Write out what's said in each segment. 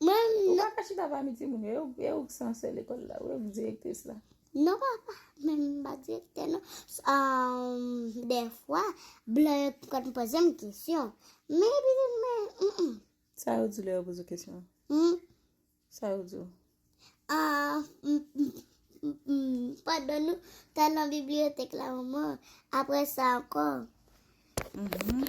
Mwen Ou nan paka chita pami timoun yo, e ou k sansè lekòl la wi, ou k direktris la. Non papa, men m pa direktè non. Ahh dèfwa blan yo t konn poze m kesyon, men epi m di men m. Sa yo di w lè yo poze w kesyon an? Hum? Sa yo di w? Ahh m m pandan nou t al nan bibliyotèk la manman, aprè sa ankò. Hum hum.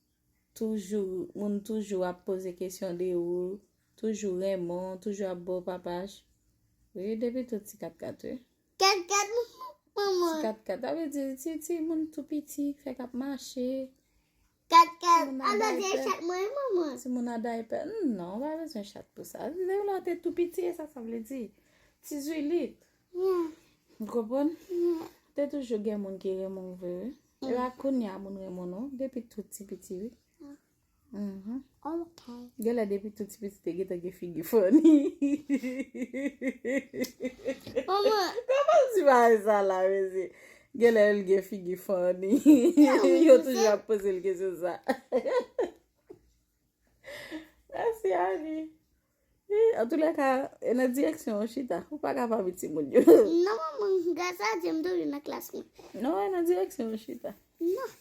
toujou moun toujou ap poze kesyon de ou toujou renmen w toujou ap baw papaj wi depi tou ti katkat wi Katkat manman ti katkat sa vle di ti ti moun tou piti ki fèk ap mache Katkat a bezwen chat mwen wi manman ti moun a daypè non ou pa bezwen chat pou sa lè w te tou piti e sa sa vle di ti zwilit. Ou konprann? Te toujou gen moun ki renmen ou vre wi. E la kounye a moun renmen nou depi tou ti piti wi. Ok. Gen lè depi tou ti piti te gentan gen figi funny. Mama. Koman ti ba e sa la mezi? Gen lè l gen figi funny. Yo toujou ap poze l kesyon sa. Mèsi Annie. Eh, an tou lè ka, e nan direksyon ou chita, ou pa ka pa vi timoun yo. Non manman, gras a Dye m toujou nan klas mwen. Non, e nan direksyon ou chita. Non.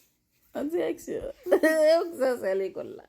Nan direksyon. Ou k sa se lekòl la.